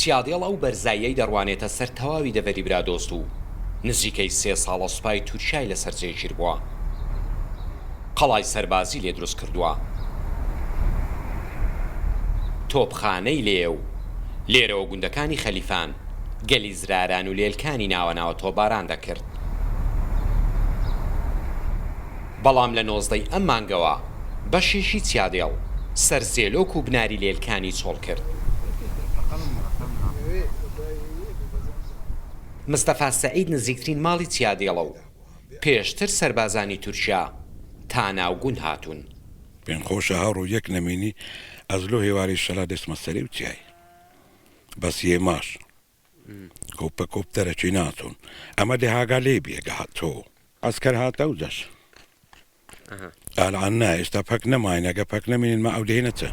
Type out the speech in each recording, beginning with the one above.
چیادێڵ ئەو بەرزاییەی دەڕوانێتە سەر تەواوی دەڤەری برادۆست و نزیکەی سێ ساڵە سوپای تورکیای لەسەر جێگیربووە. قەڵای سەربازی لێ دروست کردووە. تۆپخانەی لێیە و لێرەوە گوندەکانی خەلیفان، گەلی زراران و لێلکانی ناوەناوە تۆپباران دەکرد. بەڵام لە نۆزدەی ئەم مانگەوە بەشێکی چیادێڵ سەر زێلۆک و بناری لێلکانی چۆڵ کرد. مستەفا سەعید نزیکترین ماڵی چیادێڵە و پێشتر سەربازانی تورکیا تا ناو گوند هاتوون. پێم خۆشە هەر و یەک نەمینی ئەز لۆ هێواری شەلا دەچمە سەری و چیای بەس یێ ماش. کوپە کوپ دەرەکی ناتون ئەمە دهاگا لێ بێگە هاتۆ ئەسکەر هاتە و دەش ئالان نایستا پەک نەماینەگە پەک نەمێنین مە ئەو دێنەتە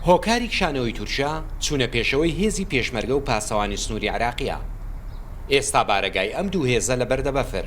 هۆکاری کشانەوەی تورکیا چوونە پێشەوەی هێزی پێشمەرگە و پاسەوانی سنووری عێراقیە. ئێستا بارەگای ئەم دوو هێزە لە بەردە بەفر.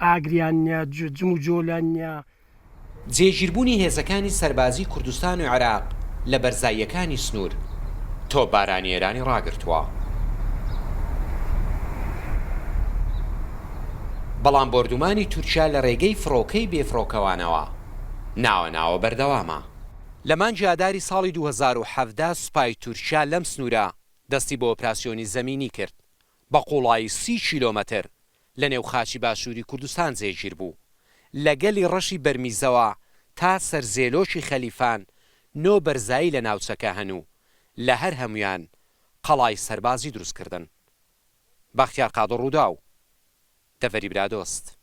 ئاگریان نیە جم و جۆلیان نیە. جێگیربوونی هێزەکانی سەربازیی کوردستان و عێراق لە بەرزاییەکانی سنوور، تۆپبارانی ئێرانی ڕاگرتووە، بەڵام بۆردومانی تورکیا لە ڕێگەی فڕۆکەی بێفڕۆکەوانەوە ناوە ناوە بەردەوامە. لە مانگی ئاداری ساڵی دوو هەزار و حەڤدە سوپای تورکیا لەم سنوورە دەستی بە ئۆپراسیۆنی زەمینی کرد، بە قوڵایی سی کیلۆمەتر لە نێو خاکی باشووری کوردستان جێگیر بوو. لە گەلی ڕەشی بەرمیزەوە تا سەر زێلۆکی خەلیفان نۆ بەرزایی لە ناوچەکە هەن و لە هەر هەموویان قەڵای سەربازی دروست کردن. بەختیار قادر رووداو، دەڤەری برادۆست.